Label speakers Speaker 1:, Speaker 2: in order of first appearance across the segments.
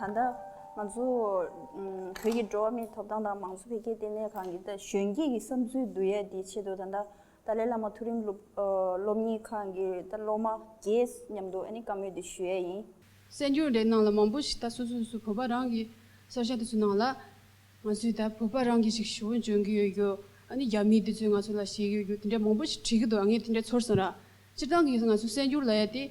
Speaker 1: ད་ལྟ་ང་ཚོ་བོད་ཀྱི་འགྲོ་བ་མིའི་ཐོབ་ཐང་དང་མང་གཙོ་འཕེལ་རྒྱས་ལྟེ་གནས་ཁང་གིས་གཞོན་སྐྱེས་ཀྱི་བསམ་ཚུལ་བསྡུ་ཡས་དེའི་ཆེད་དུ་ད་ལྟ་ཏཱ་ལའི་བླ་མ་མཐོ་རིམ་སློབ་གཉེར་ཁང་གི་ད་ལྟ་སློབ་མ་བརྒྱད་མཉམ་དུ་བཀའ་མོལ་དེ་ཞུ་ཡས་ཡིན། གསལ་འགྱུར་དེ་གནང་
Speaker 2: ལ་མང་པོ་ཞིག་ད་སོ་སོ་སོ་བོད་པ་རང་གི་སོར་བཞག་དེ་ཚོ་གནང་ལ། ང་ཚོས་ད་བོད་པ་རང་གི་ཞིག་ཞུ་འོན་བྱོན་གྱི་ཡོད་རྒྱུ། ཨ་ནི་རྒྱ་མི་དེ་ཚོས་ང་ཚོ་ལ་བྱེད་ཡོད་རྒྱུ་དེ་འདྲ་མང་པོ་ཞིག་བྲིས་ཀྱི་འདུག་ཨ་ངས་དེ་འདྲ་ཚོར་སོང་ར། སྤྱིར་བཏང་གིས་ང་ཚོ་གསལ་འགྱུར་ལ་ཡ་དེ།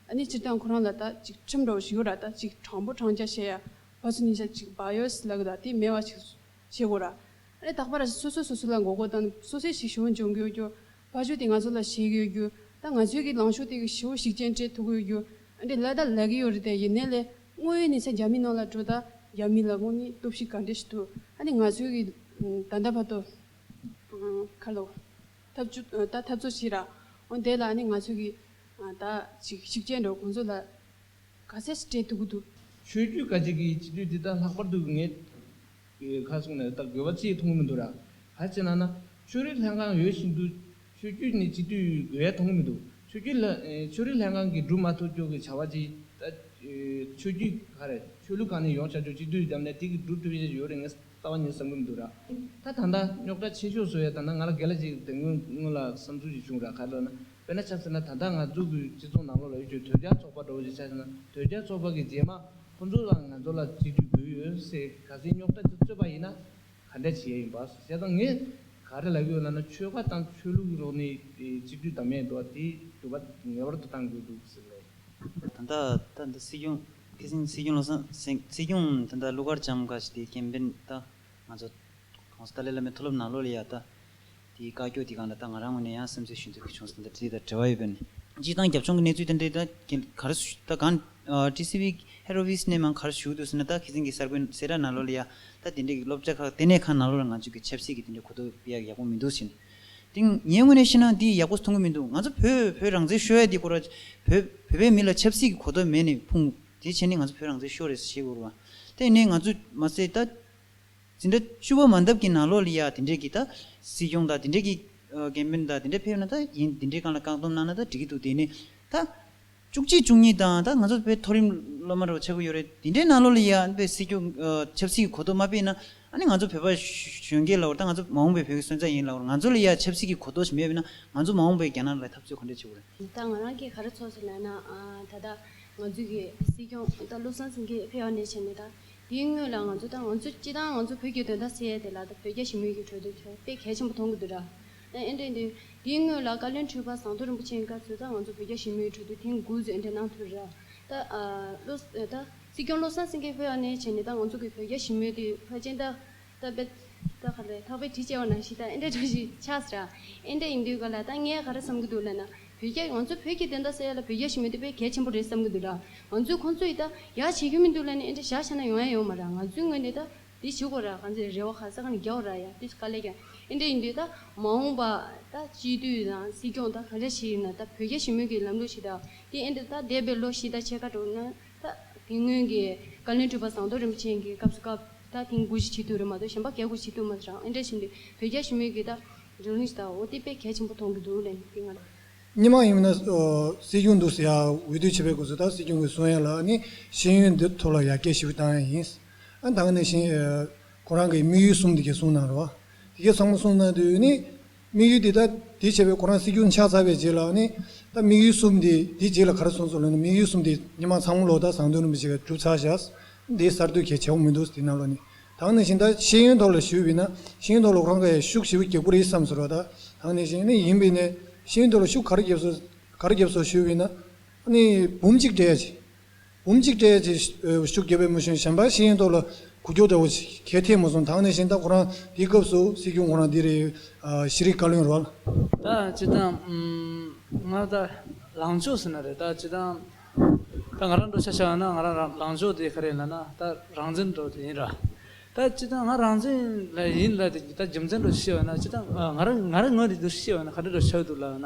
Speaker 2: ཨ་ནི་སྤྱིར་བཏང་ཁོ་རང་ལ་ད་ཅིག་ཁྲིམས་འགྲོ་བ་ཞིག་ཡོད་ར་ད་ཅིག་དྲང་པོ་དྲང་བརྒྱ་བྱེད་ཡ་བ་ཚོ་ནི་ད་ཅིག་བག་ཡོད་སི་ལ་གི་ད་དེ་མེད་བ་ཅིག་བྱེད་དགོས་ར། ཨ་ནི་རྟག་པར་སོ་སོས་སོ་སོ་ལ་མགོ་སྐོར་དང་སོ་སོས་ཞིག་ཞི་བོ་འབྱུང་གི་ཡོད་རྒྱུ། བག་ཆོས་དེ་ང་ཚོ་ལ་བྱེད་ཀྱི་ཡོད་རྒྱུ། ད་ང་ཚོས་གི་ལངས་ཕྱོགས་དེ་གི་ཞི་བོ་ཞིག་ཅན་སྤྲད་ཐུབ་གི་ཡོད་རྒྱུ། ཨ་འདྲེ་ལ་ད་ལས་གི་ཡོད་རེད་དེ་ཡིན་ནའི་ལས་དངོས་ཡོད་ནི་ཚེ་རྒྱ་མིའི་ནང་ལ་འགྲོ་ད་རྒྱ་མིའི་ལ་དངོས་ནི་སྟོབས་ཤིག་ག་འདྲེ་ཞིག་ཐུབ་ཨ་ནི་ང་ཚོས་གི་ད་ད་བར་དུ། ཁ་ལོ། ཐབས་བཅུ་ད་ཐབས་རྩོད་ཕྱིར་ར། འོ་དེ་ལ་ནི་ང་ཚོས་གི། ད་ཅིག་ཤིག་ཅེས་འགྲོ་ཁོང་ཚོ་ལ། ག་ཚད་ཅིག་སྤྲད་འདུག་གི་འདུག། ཆོས་བརྒྱུད་ག་ཅིག་
Speaker 3: གིས་སྤྱི་འཐུས་འདི་ལྟར་ལྷག་པར་དུ་ངས། ཁ་གསུངས་ནས་ད་དགོས་པ་ཅིའི་མཐོང་གི་མི་འདུག་ར། ག་ཅེ་ན་ན། ཆོས་རིག་ལྷན་ཁང་ཡོད་བཞིན་དུ། ཆོས་བརྒྱུད་ནི་སྤྱི་འཐུས་དགོས་ཡ་མཐོང་གི་མི་འདུག་ཆོས་བརྒྱུད་ལ། ཆོས་རིག་ལྷན་ཁང་གིས་སྒྲུབ་མ་ཐུབ་ཀྱོག་གི་བྱ་བ་ཅི། ད། ཆོས་བརྒྱུད་ག་རེ། ཆོས་ལུགས་གང་ནས་ཡོང་བྱ་ཀྱོག་སྤྱི་འཐུས་འདམ་ནས་དེ་གིས་སྒྲུབ་ཐུབ་ཡ་ཡོད་རེད་ངེས། རྩ་བ་ཉིད་ཟབ་མོ་འདུག་ར། ད་ད་ད་རྙོག་དྲ་ཆེ་ཤོས་སུ་ཡོད་ད་ན་ང་ལ་འགལ་ལ་ཅིག་དེ་སྔོན་སྔོན་ལ་བསམ་ཚུལ་ཅིག་བྱུང་ར་ག་ལོ་ན་དཔེར་ན་ཆ་ཟེར་ན་ད་ད་ང་ཚོ་གུས་སྤྱི་ཚོགས་ནང་ལོག་ལ་ཡོད་ཆོས་དོལ་རྒྱལ་ཚོགས་པ་འདྲ་བོ་ཞིག་ཆ་ཟེར་ན་དོལ་རྒྱལ་ཚོགས་པ་གི་རྗེས་མ་ཁོ་ཚོ་རང་ང་ཚོ་ལ་གཅིག་གྱུར་དགོས་ཡོད་སའི་ག་སའི་རྙོག་དྲ་དེ་རྩོད་པ་ཡིན་ན་ག་འདྲ་བྱེད་ཡ་ཡིན་པ་ཞེ་སྡང་ངས་ག་རེ་ལབ་ཡོད་ལབ་ན་ཆོལ་ཁ་དང་ཆོས་ལུགས་ཀྱི་རོགས་ནས་གཅིག་གྱུར་དང་མེད་འགྲོ་བ་དེ་གྱུར་པ་ངེས་པར་དུ་གཏང་དགོས་འདུག་ཟེར་ལོ། ད་ད་ད་ད་
Speaker 4: སྲིད་སྐྱོང་སྐད་གསེང་ཚིག་སྐྱོན་ལ་སེང་གསེང་ཚིག་སྐྱོན་དེ་འདྲ་གླུ་གར་ལྕམ་འགའ་ཞིག་དེ་སྐྱེན་པན་ད་ང་ཚོ་གོང་ས་ཏཱ་ལའི་བླ་མའི་མཐོ་སློབ་ནང་ལོ་ལེ་ཡ་ད་དེའི་བཀའ་སྐྱོ་དེ་གང་འདྲ་ད་ང་རང་ངོས་ནས་ཡང་སེམས་ཚེགས་ཞུ་འདོད་བྱུང་ས་དེ་འདྲ་དེ་དང་བྲེལ་བ་ཡོད་པས་ནི། སྤྱི་བཏང་རྒྱབ་ལྗོངས་ཀྱི་གནས་ཚུལ་དེ་འདྲ་ད་གལ་ག་རེ་སུ་ད་གང་ཏི་སི་བྷི་ཧེ་རོ་བྷི་སི་ནས་མང་ག་རེ་ཞུ་འདོད་ཟེར་ན་ད་ཁི་སིང་གི་གསར་འགོད་སེ་ར་ནང་ལོ་ལེ་ཡ་ད་དེ་འདྲའི་གི་སློབ་གྲྭ་ཁག་ལྟེ་གནས་ཁང་ནང་ལོ་ལེ་ང་ཚོས་གི་ཆབ་སྲིད་ཀྱི་དེ་འདྲའི་གོ་ཐོབ་སྤེལ་ཡག་ཡག་པོ་མི་འདུག་ཟེར་ནས། ཏིང། ངས་དངོས་གནས་ཤི་ན་འདི་ཡག་པོ་མཐོང་གི་མི་འདུག་ང་ཚོ་བོད་བོད་རང་བཙན་ཤོད་ཡ་འདི་སྐོར་བོད་བོད་པའི་མི་ལ་ཆབ་སྲིད་ཀྱི་གོ་ཐོབ་མེད་ནས་ཕུང་དེ་ཕྱིར་ནི་ང་ཚོ་བོད་རང་བཙན་ཤོད་རེད་ཞེས་འུར་བ་ཏེ་ནས་ང་ཚོས་མ་ཟེར་ད། འཛིན་གྲྭ་བཅུ་བ་མ་འདབ་ཀྱི་ནང་ལོག་ལི་ཡ་དེ་འདྲས་ཀྱིས་ད་སྲིད་སྐྱོང་དང་དེ་འདྲས་ཀྱིས་རྒན་པན་དང་དེ་འདྲས་ཕེབས་ན་ད་ཡིན་དེ་འདྲས་གང་ལ་བཀག་སྡོམ་གནང་ན་ད་འགྲིག་གི་འདུག་དེ་ནས་ད། བཅུ་གཅིག་བཅུ་གཉིས་དང་ད་ང་ཚོ་བོད་མཐོ་རིམ་སློབ་མར་བྱེད་དགོས་ཡོད་རེད་དེ་འདྲའི་ནང་ལོགས་ལ་ཡ་ཨན་པའི་སྲིད་སྐྱོང་ཆབ་སྲིད་ཀྱི་གོ་རྟོགས་མ་སྤེལ་ན་ཨ་ནི་ང་ཚོ་བོད་པ་གཞོན་སྐྱེས་ལ་བར་ད་ང་ཚོ་མ་འོངས་པའི་བོད་ཀྱི་སོན་རྩ་ཡིན་ལ་བར་ང་ཚོ་ལ་ཡ་ཆབ་སྲིད་ཀྱི་གོ་རྟོགས་ཤིག་མེད་པས་ན་ང་ཚོ་མ་འོངས་པའི་རྒྱ་ནག་ལ་འཐབ་རྩོད་ག་འདྲ་བྱེད་དགོས་རེད། ད་ང་རང་གི་ག་རེ་ཚོར་
Speaker 2: སོང་ན་ན་ད་ད་ང་ཚོ་གི་སྲིད་སྐྱོང་ད་བློ་བཟང་སེང་གེ་ཕེ་བ་ནས་བྱས་ནས་ད་དེའི་དངོས་ལ་ང་ཚོ་ད་ང་ཚོ་སྤྱི་དང་ང་ཚོ་བོད་ཀྱི་དོན་དག་སེ་ཡ་དེ་ལ་ད་བོད་རྒྱ་ཞི་མོལ་གྱི་གྲོས་དོན་ཚོད་དཔེ་གལ་ཆེན་པོ་མཐོང་གི་འདུག་དྲ་ཨན་ཀྲེང་ཏུའུ། དེའི་སྔོན་ལ་བཀའ་བློན་ཁྲི་པ་ཟངས་མཐོ་རིན་པོ་ཆེས་བཀའ་ཚོད་ད་ང་ཚོ་བོད་རྒྱ་ཞི་མོལ་གྲོས་བསྡུར་ཐེངས་དགུ་བཟོས་འདི་གནང་ཐུབ་རེད། ད། བློ། ད། སྲིད་སྐྱོང་བློ་བཟང་སེང་གེས་ཧོས་ཨ་ནེ་བྱས་ནས་ད་ང་ཚོ་གི་བོད་རྒྱ་ཞི་མོལ་དེ་ཕར་ཕྱིན་ད། ད་དཔེ། ད་ཁ་ལས་ཐག་པའི་དྲི་བཅལ་བ་ནང་བཞིན་ད་ཨན་ཀྲེང་ཀྲུའུ་ཞིག་ཆགས་སྲིད། ཨན་ཀྲེང་ཡིན་དུས་ག་ལ་ད་ངས་ག་རེ་བསམ་གྱི་འདུག་ལབ་ན། བོད་རྒྱ་ང་ཚོ་བོད་ཀྱི་བདེན་མཐའ་གསལ་ཡ་ལ་བོད་རྒྱ་ཞི་མོལ་དེ་དཔེ་གལ་ཆེན་པོ་རེད་བསམ་གྱི་འདུག་ད། ང་ཚོས་ཁོང་ཚོ་ཡི་ད་ཡག་བྱེད་ཀྱི་མི་འདུག་ལབ་ནས་ཨན་ཀྲེང་ཞག་ཆ་ན་ཡོང་ཡ་ཡོང་མ་ར་ང་ཚོའི་ངོས་ནས་ད། དེ་ཆོས་གོ་ར་གང་ཚེ་རེ་བ་ཁ་ས་ག་ནས་རྒྱ་གོ་ར་ཡ་དེ་ག་ལས་ཀྱང་ཨེ་འདྲ་ཡིན་དུས་ད་མ་འོངས་པ་ད་སྤྱི་འཐུས་དང་སྲིད་སྐྱོང་ད་ག་འདྲ་བྱེད་ཡུལ་ན་ད་བོད་རྒྱ་ཞི་མོལ་གྱི་ལམ་ལུགས་ཞིག་ད་དེ་ཨེ་འདྲ་ད་འདས་པའི་ལོ་བཞི་ད་ཕྱེད་ཀ་དྲུག་ན་ད་དེ་སྔོན་གྱི་བཀའ་བློན་ཁྲི་པ་ཟངས་མདོག་རིན་པོ་ཆེན་གྱི་སྐབས་སུ་སྐབས་ད་དེང་དགུ་བཞི་བྱེད་དུས་རེད་མ་གཏོགས་གཞན་པ་བརྒྱད་དགུ་བྱེད་དུས་མ་རང་ཨེ་འདྲ་བྱེད་འདུག་བོད་རྒྱ་ཞི་མོལ་གྱི་ད་རང་ལུགས་ཞིག་ད་འོ་དེ་དཔེ་གལ་ཆེན་པོ་མཐོང་གི་འདུག་ལན་དེ་ང་རང། སྙན་མང་ཡིན་མིན་ན་
Speaker 5: སྲིད་སྐྱོང་འདུག་ཟེར་ཡ་འོས་བསྡུ་བྱེད་པའི་སྐོར་སུ་ད་སྲིད་སྐྱོང་གི་གསུང་ཡ་ལ་ནི་ཤེས་ཡོན་འདི་ཐོབ་ལ་ཡ་སྐད་ཞིབ་ཏང་ཡ་ཡིན། ཨ་མདང་ནས་བཞིན། ཁོ་རང་གིས་དམིགས་ཡུལ་གསུམ་དེ་གས་གསུངས་གནང་རོགས། དེ་གས་ཚང་མ་གསུངས་གནང་དུས་ནི། དམིགས་ཡུལ་དེ་ད་དེ་བྱས་པས་ཁོ་རང་སྲིད་སྐྱོང་ཆགས་ཚར་བའི་རྗེས་ལ་ནི། ད་དམིགས་ཡུལ་གསུམ་དེ་དེ་རྗེས་ལ་ག་རེ་གསུངས་སོང་ལ་ནི་དམིགས་ཡུལ་གསུམ་དེ་ཉི་མ་ཚང་མ་ལོ་ཟླ་བཟང་སྟོན་རིན་པོ་ཆེ་གས་གྲུབ་ཚར་བཞག། དེའི་གསར་གཏོད་གས་བྱས་པོ་མི་འདུག་དེ་རྣམས་ལ་ནི། དང་ནས་བཞིན་ད་ཤེས་ཡོན་ཐོག་ལ་ཞུས་པས་ན་ཤེས་ཡོན་ཐོག་ལ་ཁོ་རང་གས་ཤུགས་ཞིབ་བསྐྱེད་དགོས་རེད་བསམས་སོ་རོགས་ད། དང་ནས་བཞིན་ནི་ཡིན་པས་ནས་ཤེས་ཡོན་ཐོག་ལ་ཤུགས་ག་རེ་བསྐྱེད་སོ། ག་རེ་བསྐྱེད་སོ་ཞུས་པས་ན། ནི་བུམ་གཅིག་འདྲེས། འབུམ་གཅིག་སྤྲད་ཅེས་ཤུགས་རྒྱས་པའི་མོ་གཞོན་གཞན་པ་ཞིག་ཡིན་མདོག་ལ་གུ་རྒྱོག་འདྲ་བོ་གལ་ཐེ་མོ་སོང་དང་ནས་བཞིན་ད་ཁོ་རང་དེའི་སྐབས་སུ་སྲིད་སྐྱོང་ཁོ་རང་འདི་རེད་ཤི་རིག་བཀའ་བློན་རོལ། ད་ཅི་
Speaker 6: དང། ང་ད་ལང་ཕྱོགས་ཟེར་ན་རེད་ད་ཅི་དང། ད་ང་རང་འགྲོ་ཆ་ཆ་ཡང་ན་ང་རང་རང་ལང་ཕྱོགས་དེ་ག་རེད་ལ་ན་ད་རང་བཙན་འགྲོ་དེ་ཡིན་ར། ད་ཅི་དང་ང་རང་བཙན་ལ་ཡིན་ལ་དེ་ད་རྒྱུ་མཚན་འགྲོ་ཤེས་བ་ན་ཅི་དང་ང་རང་ང་རང་ངོས་འདི་འགྲོ་ཤེས་བ་ན་ག་འདྲ་འགྲོ་ཆ་འདུག་ལ་ན།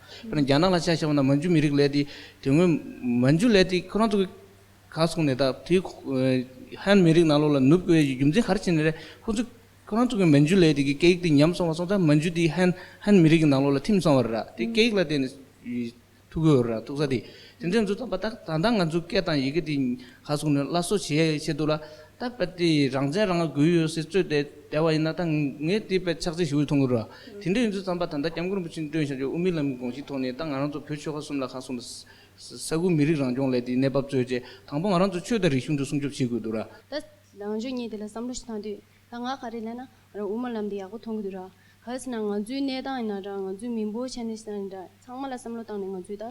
Speaker 6: དཔེར་ན་རྒྱ་ནག་ལ་ཆ་
Speaker 3: བཞག་པ་ན་མན་ཇུ་མི་རིགས་ལས་དེ་དེ་སྔོན་མན་ཇུ་ལས་དེ་ཁོ་རང་ཚོ་ག་སོང་ནས་ད་དེ་ཧན་མི་རིགས་ནང་ལོགས་ལ་ནུབ་དགོས་རྒྱུ་མཚན་ག་རེ་བྱས་ནས་རེད་ཁོ་ཚོ་ཁོ་རང་ཚོ་གི་མན་ཇུ་ལས་དེ་གི་སྐད་ཡིག་དེ་ཉམས་སོང་བ་སོང་ད་མན་ཇུ་དེ་ཧན་ཧན་མི་རིགས་ཀྱི་ནང་ལོགས་ལ་ཐིམ་སོང་བ་རེད་དེ་སྐད་ཡིག་ལ་བརྟེན་ནས་ཐུག་གི་ཡོད་རེད་ཐུག་ས་དེ་དེ་འདྲས་ཚོ་ད་ད་ད་ང་ཚོ་སྐད་དང་ཡི་གེ་དེ་ཁ་སོང་ནས་སླར་གསོ་བྱེད་ཡ་ཡི་ཆེད་དུ་ལ་ད་པད་ཏི་ཡིས་རང་བཙན་རང་དགོས་ཡོད་ཟེར་རྩོད་དེ་བསྡད་པ་ཡིན་ན་ད་ངས་དེའི་པད་ཕྱག་འཚལ་ཞུ་ཡི་ཐོང་གི་རོ། དེ་འདྲས་ཡིན་ཚུལ་བརྩམས་པ་ད་ལྟ་སྐྱབས་མགོན་རིན་པོ་ཆེ་མགྲོན་བཞག་རྒྱུ་དབུ་མའི་ལམ་གྱི་དགོངས་གཞིའི་ཐོག་ནས་ད་ང་རང་ཚོ་བོད་ཆོལ་ཁ་གསུམ་ལ་ཁ་སོང་ནས་ས་ཁུལ་མི་རིགས་རང་སྐྱོང་ལས་དེའི་གནས་བབ་རྩོད་རྗེས་དང་པོ་ང་རང་ཚོ་ཆོས་དང་རིག་གཞུང་དུ་སྲུང་སྐྱོབ་བྱེད་དགོས་འདུག་ར། ད་རང་
Speaker 2: ཆོས་གཉིས་དེ་ལ་བསམ་བློ་ཞིག་བཏང་དུས་ད་ང་ག་རེ་ལས་ན་ང་རང་དབུ་མ་ལམ་དེ་ཡག་པོ་མཐོང་གི་འདུག་ར། གལ་སྲིད་ན་ང་ཚོའི་གནས་སྟངས་ཡིན་ན་འདྲ་ང་ཚོའི་མི་འབོར་ཆེན་ནས་ཡིན་ན་འདྲ་ཚང་མ་ལ་བསམ་བློ་བཏང་ནས་ང་ཚོས་ད་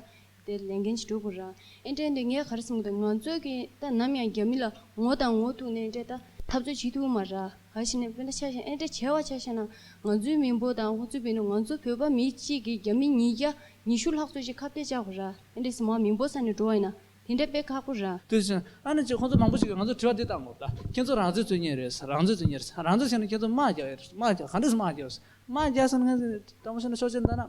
Speaker 2: དེ་ལས་འགན་ཅི་དྲུག་པོ་རང་ཨེ་འདྲས་འདི་ངས་གར་སོང་གི་འདུག་ང་ཚོས་ཀྱི་ད་ནམ་ཡང་རྒྱ་མི་ལ་ངོ་དང་ངོ་ཐུག་ནས་འདྲས་ད་འཐབ་རྩོད་བྱེད་ཐུབ་མ་ར་ག་ཞིག་ནས་བོད་ད་ཆ་ཞེན་ཨེ་འདྲས་བྱས་བ་ཆ་ཤས་ན་ང་ཚོའི་མི་འབོ་དང་ཧོ་ཚུ་བེ་ནུ་ང་ཚོ་བོད་པ་མི་གཅིག་གི་རྒྱ་མི་ཉིས་བརྒྱ་ཉི་ཤུ་ལྷག་ཚོས་ཅིག་ཁ་བཏད་བཅག་པ་ར་ཨེ་འདྲས་སི་མ་མི་འབོ་ས་ནས་འགྲོ་བ་ཡིན་ན་དེ་འདྲས་དཔེ་ཁག་པོ་ར། དེ་བཞིན་ཨ་ནི་ཅིག་ཁོང་
Speaker 6: ཚོ་མང་པོ་ཞིག་གིས་ང་ཚོར་དྲི་བ་འདི་ལྟར་འོངས་ད་ཁྱེད་ཚོ་རང་བཙོས་བཙོས་ཉེས་རེད་ས་རང་བཙོས་བཙོས་ཉེས་རེད་ས་རང་བཙོས་བྱས་ན་ཁྱེད་ཚོ་དམག་རྒྱག་ཡས་རེད་ས་དམག་རྒྱག་ག་འདྲས་སུ་དམག་རྒྱག་ས་དམག་རྒྱག་ས་ནི་ཁྱེད་ཚོ་དྲང་པོ་བཤད་ན་ཆོག་ཆེ་ད་ན།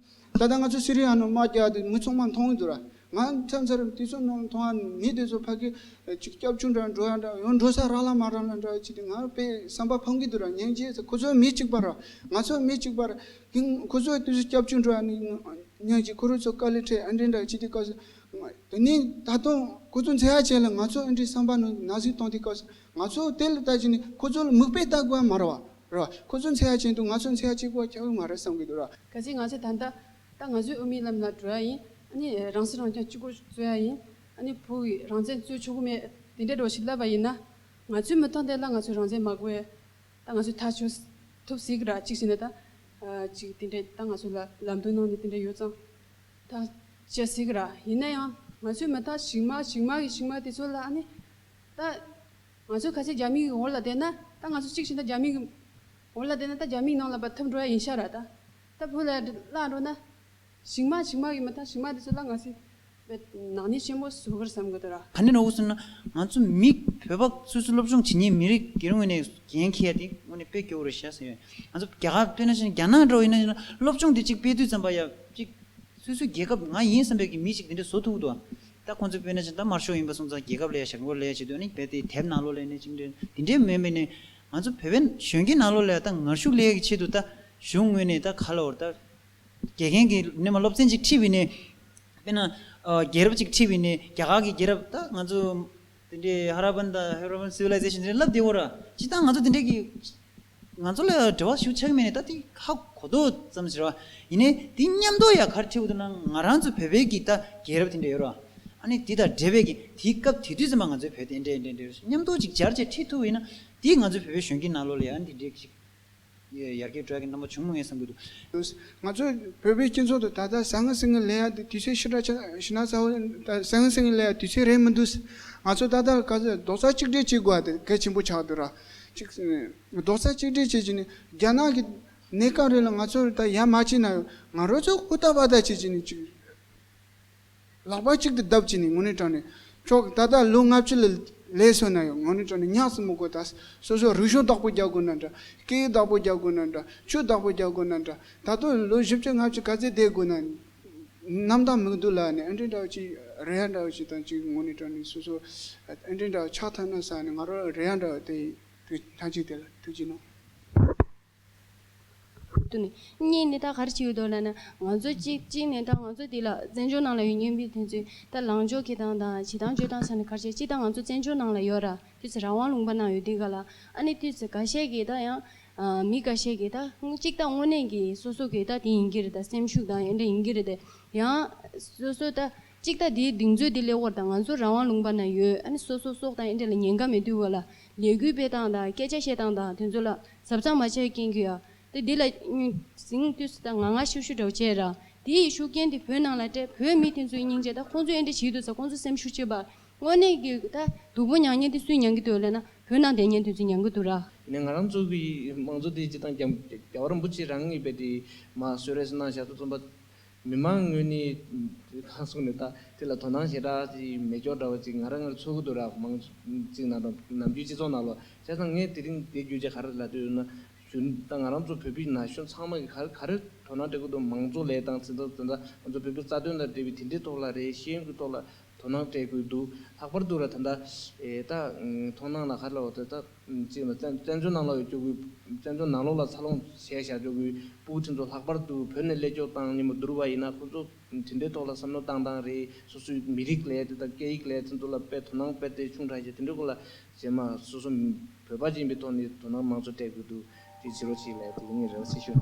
Speaker 6: ད་ལྟ་ང་ཚོ་སི་
Speaker 7: རི་ཡ་ནང་དམག་རྒྱག་དུས་མི་ཚང་མ་མཐོང་གི་འདུག་ར། ང་ཚང་ཚར་དུས་ཚོད་ནང་མཐོང་ཡ་མི་དེ་ཚོ་ཕ་གི་ཅིག་སྐྱབས་ཆུང་འདྲ་འགྲོ་ཡ་འདྲ་ཡང་འགྲོ་ས་རག་ལ་མ་རག་ལ་འདྲ་ཅི་སྟེ་ང་དཔེ་བསམ་པ་ཕམ་གི་འདུག་ར་ཉན་རྗེས་ཁོ་ཚོ་མི་གཅིག་པ་ར་ང་ཚོ་མི་གཅིག་པ་ར་དེ་ཁོ་ཚོ་དུས་ཚོད་སྐྱབས་ཆུང་འགྲོ་ཡ་ནི་ཉན་རྗེས་ཁོ་རུ་ཚོ་དཀའ་ལས་འཕྲད་ཨེ་འདྲེ་འདྲ་ཅི་སྟེ་སྐབས་དེ་ནི་ད་དུང་ཁོ་ཚོ་འཛེ་ཡ་བྱས་ལ་ང་ཚོ་ཨེ་འདྲེ་བསམ་པ་ནང་ན་ཟིག་བཏང་དེ་སྐབས་ང་ཚོ་དེ་ལ་ལྟ་ཅི་ནི་ཁོ་ཚོ་ལ་མིག་དཔེ་ལྟ་དགོས་ཡ་མ་ར་བ། རེད། ཁོ་ཚོའི་མཚན་ཡག་ཅན་དུ་ང་ཚོའི་མཚན་ཡག་གཅིག་པོ་ཁྱད་པར་མ་རེད་བསམ་གྱི་འདུག་ར། གལ་སྲིད་ང་ཚོས་ད་ལྟ།
Speaker 2: ད་ང་ཚོས་དབུ་མའི་ལམ་ལ་བྲོས་ཡ་ཡིན། ཨ་ནི་རང་སྲིད་རང་སྐྱོང་གཅིག་པོར་རྩོད་ཡ་ཡིན། ཨ་ནི་བོད་ཀྱི་རང་བཙན་རྩོད་ཆོག་གི་མེད། དེ་འདྲའི་སྒྲོག་གཞི་བསླབས་པ་ཡིན་ན། ང་ཚོའི་མི་ཐོག་འདི་ལ་ང་ཚོའི་རང་བཙན་མ་དགོས། ད་ང་ཚོས་ཐག་ཆོད་ཐུབ་སྲིད་གི་ར་གཅིག་བྱས་ན་ད། གཅིག་དེ་འདྲའི་ད་ང་ཚོ་ལ་ལམ་སྟོན་གནང་ནས་དེ་འདྲའི་ཡོད་ཙང། ཐག་བཅད་སྲིད་གི་ར། ཡིན་ན་ཡང། ང་ཚོའི་མི་དག་ཞིག་མ་ཞིག་མ་གི་ཞིག་མ་དེ་ཚོ་ལ་ཨ་ནི། ད། ང་ཚོས་ཁ་ཆེ་རྒྱ་མིག་གི་འོག་ལ་བསྡད་ན་ད་ང་ཚོ་གཅིག་བྱས་ན་རྒྱ་མིག་གི་འོག་ལ་བསྡད་ན་ད་རྒྱ་མིག་ནང་ལ་བ་འཐབ་འགྲོ་ཡ་ཡིན་ཤག་ར་ད་ད་བོད་ལ་ཡ་བླངས་འགྲོ་ན་ཞིག་མ་ཞིག་མ་གི་མ་ཐག་ཞིག་མ་དེ་ཚོ་ལ་ང་ཚོས་བའི་ནག་ཉེས་ཆེན་པོ་བཟོ་གི་རེད་བསམ་གི་འདུག་ར། ད་ནི་ནོར་བུ་སུ་ན་
Speaker 4: ང་ཚོ་མི་བོད་པ་སོ་སོའི་སློབ་སྦྱོང་བྱེད་ཉེས་མི་རིགས་སྒེར་ངོས་ནས་འགན་འཁྱེར་ཡ་དེ་ངོས་ནས་སྤེལ་དགོས་རེད་ཤག་ཟེར་ང་ཚོ་རྒྱ་གར་སྤེལ་ན་ཤེས་ན་རྒྱ་ནག་འགྲོ་ཡིན་ན་ཤེས་ན་སློབ་སྦྱོང་དེ་གཅིག་སྤེལ་དུས་ཙམ་པ་ཡ་གཅིག་སོ་སོའི་རྒྱལ་ཁབ་ང་ཡིན་བསམ་པའི་གི་མི་ཞིག་དེ་འདྲ་བཟོ་ཐུག་གི་འདུག་ད་ཁོང་ཚོའི་དཔོན་གནས་ཅན་དམར་ཤོག་ཡིན་པ་སོང་ཙང་རྒྱལ་ཁབ་ལ་ཡ་ཞར་མགོ་ལ་ཡ་བྱེད་དོན་ནི་རྦད་དེ་དེབ་ནང་ལོག་ལས་ནི་ཅིག་འདྲེ་འདི་འདྲས་མེད་མི་ནི་ང་ཚོ་བོད་པའི་གཞོན་སྐྱེས་ནང་ལོག་ལས་ད་ངར་ཤུགས་ལས་ཀྱི་ཆེད་དུ་ད་གཞུང་ངོས་ནས་ད་ག་ལ་བོར་ད་དགེ་རྒན་གྱི་ནི་མ་སློབ་ཚན་ཅིག་ཁྲིད་བས་ནི་དཔེར་ན་རྒྱལ་རབས་ཅིག་ཁྲིད་བས་ནི་རྒྱ་གར་གྱི་རྒྱལ་རབས་ད་ང་ཚོ་དེ་འདྲས་ཧ་ར་པན་ད་ཧེ་རོ་པན་སི་བི་ལའི་ཛེ་ཤིན་དེ་འདྲས་བསླབ་བདེ་བོ་ར་ཅིག་ད་ང་ཚོ་དེ་འདྲས་ཀྱི། ང་ཚོ་ལ་འབྲེལ་བ་ཞུ་ཆགས་མེད་ནས་ད་ལྟའི་ཧ་གོ་ཏོ་ཙམ་ཟེར་བ་ཡིན་ནའི་དེ་མཉམ་དུ་ཡ་གར་ཁྲིད་འོ་དོ་ན་ང་རང་ཚོ་བོད་པའི་གི་ད་རྒྱལ་རབས་དེ་འདྲ་ཡོད་རོ་ཨ་ནི་དེ་དང་འབྲེལ་བའི་གི་དེའི་སྐབས་དེ་དུས་ཚོད་མ་ང་ཚོའི་བོད་དེ་འདྲའི་འདྲའི་འདྲའི་རུ་མཉམ་དུ་ཅིག་སྦྱར་བཅས་ཁྲིད་ཐུབ་ཡོད་ན་དེ་ང་ཚོའི་བོད་པའི་གཞོན་སྐྱེས་ནང་ལོ་ལ་ཡ་འདི་འདྲའི་གི་ཅིག་ཡར་རྒྱས་དྲོད་ཀྱི་རྣམ་པ་བྱུང་མི་ངེས་བསམ་གྱི་འདུག། ང་ཚོའི་
Speaker 7: བོད་པའི་སྤྱི་ཚོགས་དུ་ད་ལྟ་བཟང་ངན་སེང་ངེ་ལེ་ཡ་དེ་དུས་ཚོད་ཤི་དྲག་ཆག་ཤི་ན་ས་བོ་ད་བཟང་ངན་སེང་ངེ་ལེ་ཡ་དུས་ཚོད་རེད་མི་འདུག་ང་ཚོ་ད་ལྟ་ལ་ག་ཚོད་རྡོག་རྩ་གཅིག་སྒྲིལ་བྱེད་དགོས་བ་དེ་གལ་ཆེན་པོ་ཆགས་འདུག་ར་གཅིག་རྡོག་རྩ་གཅིག་སྒྲིལ་བྱེད་ཀྱི་ནི་རྒྱ་ནག་གི་གནས་སྐབས་རེ་ལ་ང་ཚོར་ད་ཡ་མ་བྱས་ན་ང་རོ་ཚོ་ཧུར་ཐག་བར་ཐག་བྱེད་ཀྱི་ནི་གཅིག་ལག་པ་གཅིག་ཏུ་བརྡབ་ཀྱི་ནི་ངོ་ནི་དྲང་ནི་ཁྱོག་ད་ལྟ་ལོ་ལྔ་བཅུ་ལ་ལས་སོན་ན་ཡོད་ངོ་ནི་དྲང་ནི་ཉག་གསུམ་མོ་དགོས་ད་སོ་སོ་རུས་གཞུང་བདག་པོ་རྒྱག་དགོས་ན་འདྲ་སྐེའི་བདག་པོ་རྒྱག་དགོས་ན་འདྲ་ཆུ་བདག་པོ་རྒྱག་དགོས་ན་འདྲ་ད་དུང་ལོ་བཞི་བཅུ་ལྔ་བཅུ་ག་ཚད་བསྡད་དགོས་ན་གནམ་དང་མིག་དུ་ལ་ནི་ཨན་ཀྲེན་དྲའོ་གཅིག་རེ་ཡཱ་དྲའོ་གཅིག་དང་གཅིག་ངོ་ནས་དྲངས་ནས་སོ་སོ་ཨན་ཀྲེན་དྲའོ་ཕྱག་ཐོན་ན་ས་ནི་ང་རོ་རེ་ཡཱ་དྲའོ་སྟེ་དུས་མཐའ་གཅིག་དེ་ལ་ཐུགས་ཀྱིས་གནང།
Speaker 2: དུ་ནི་གཉིས་ནི་ད་གར་ཅི་ཡོད་དོ་ལ་ནི་ང་ཚོ་གཅིག་གཅིག་ནས་དང་ང་ཚོ་དེ་ལ་བཙན་བྱོལ་ནང་ལ་ཡོད་ཉོན་པའི་དེ་ཚོའི་ད་ལངས་ཕྱོགས་ཁེ་དང་དང་བྱེད་དང་སྤྱོད་དང་ས་ནི་གར་ཆད་གཅིག་དང་ང་ཚོ་བཙན་བྱོལ་ནང་ལ་ཡོད་ར་དུས་ཚེ་རང་དབང་ལུང་པ་ནང་ཡོད་དེ་ག་ལ་ཨ་ནི་དུས་ཚེ་ག་ཤས་ཀྱིས་ད་ཡང་མི་འགའ་ཤས་ཀྱིས་ད་གཅིག་ད་དངོས་གནས་ཀྱི་སོ་སོ་གི་ད་དེ་ཡིན་གྱི་རེད་ད་སེམས་ཤུགས་དང་ཡན་འདྲ་ཡིན་གྱི་རེད་དེ་ཡང། སོ་སོ་ད་གཅིག་ད་དེའི་གདིང་ཚོད་དེ་སླེ་བོར་ད་ང་ཚོ་རང་དབང་ལུང་པ་ན་ཡོད་ཨ་ནི་སོ་སོ་སོགས་ད་ཡན་འདྲ་ལ་ཉན་ཀ་མེད་དུས་བ་ལ་ལས་འགུལ་སྤེལ་སྟངས་དང་སྐད་ཆ་བཤད་སྟངས་དང་དེ་ཚོ་ལ་གཟབ་གཟབ་མ་བྱས་རྐྱེན་གྱིས་ཨ་ད་དེ་ལ་ཟིང་དུས་སུ་ད་ང་ང་ཤུ་ཤུ་འདྲ་བ་བྱས་ར་དེ་ཡི་ཤུགས་རྐྱེན་དེ་བོད་ནང་ལ་སྤྲད་བོད་མི་དེ་ཚོའི་སྙིང་རྗེ་ད་ཁོང་ཚོའི་ཡན་འདྲ་བྱེད་དུས་ད་ཁོང་ཚོ་སེམས་ཤུགས་ཆེ་བ་དངོས་གནས་ཀྱི་ད་སྡུག་པོ་མྱངས་མྱངས་ཏེ་སུས་མྱངས་ཀྱི་འདུག་ལབ་ན་བོད་ནང་བསྡད་མྱངས་དུས་ཚོད་མྱངས་ཀྱི་འདུག་ར། ནས་ང་རང་ཚོ་གི་
Speaker 3: མང་གཙོ་དེ་སྤྱི་དང་རྒྱ་རྒྱ་བར་འབུ་ཆེ་རང་ངེས་པའི་དེ་མ་བཟོད་རེས་གནང་ཞག་ཏུ་རྩོམ་པ། མི་མང་དངོས་གནས་གང་གསུང་ནས་ད་དེ་ལ་དོ་སྣང་བྱེད་དྲག་ཅིག་མེ་སྒྱོགས་འདྲ་བ་ཅིག་ང་ར་ངར་ཚོལ་གྱི་འདུག་ར་མང་གཅིག་ནང་དང་ནམ་རྒྱུན་སྤྱི་ཚོགས་ནང་ལོ་ཤ་ཚང་ངས་དེ་རིང་བསྡད་རྒྱུ་ཆ་ག་རེ་ལ་ལྟོས་ན་ཞུ་ད་ང་རང་ཚོ་བོད་པའི་ན་གཞོན་ཚང་མ་གི་ག་ག་རེ་དོ་སྣང་སྤྲད་གྱི་འདུག་མང་གཙོ་ལས་དང་ཚན་རྩ་དེ་འདྲ་ང་ཚོ་བོད་པའི་རྩ་དོན་དང་འབྲེལ་བའི་དེ་འདྲའི་ཐོག་ལ་རེ་ཞེན་གྱི་ཐོག་ལ་དོ་སྣང་སྤྲད་དགོས་འདུག་ལྷག་པར་དུ་ར་ད་ལྟ་དོ་སྣང་ལ་ཁ་ལོ་བ་དང་བཅས་པ་བཙན་བྱོལ་ནང་ལོག་ཡོད་སྐྱོ་གུས་བཙན་བྱོལ་ནང་ལོག་ལ་འཚར་ལོངས་བྱས་བཞག་སྐྱོ་གུས་པུའུ་ཁྲིན་ཚོ་ལྷག་པར་དུ་བོད་ནས་སླད་སྐྱོ་བཏང་ཉིན་མོ་བསྡུར་བ་ཡིན་ན་ཁོང་ཚོ་དེ་འདྲའི་ཐོག་ལ་བསམ་བློ་བཏང་སྟངས་རེད་སོ་སོའི་མི་རིགས་ལས་དེ་དང་སྐད་ཡིག་ལས་ཚིག་མཛོད་ལ་དཔེ་དོ་སྣང་དཔེ་དེ་ཆུང་དྲག་བྱས་དེ་འདྲའི་སྐོར་ལ་བྱས་མ་སོ་སོ་བོད་པ་ཡིན་པའི་ཐོག་ནས་དོ་སྣང་མང་ཚོགས་སྤྲད་དགོས་འདུག་དེ་བྱེད་རོགས་བྱེད་ལས་དེ་ངའི་རེ་བ་ཆེ་ཤོས།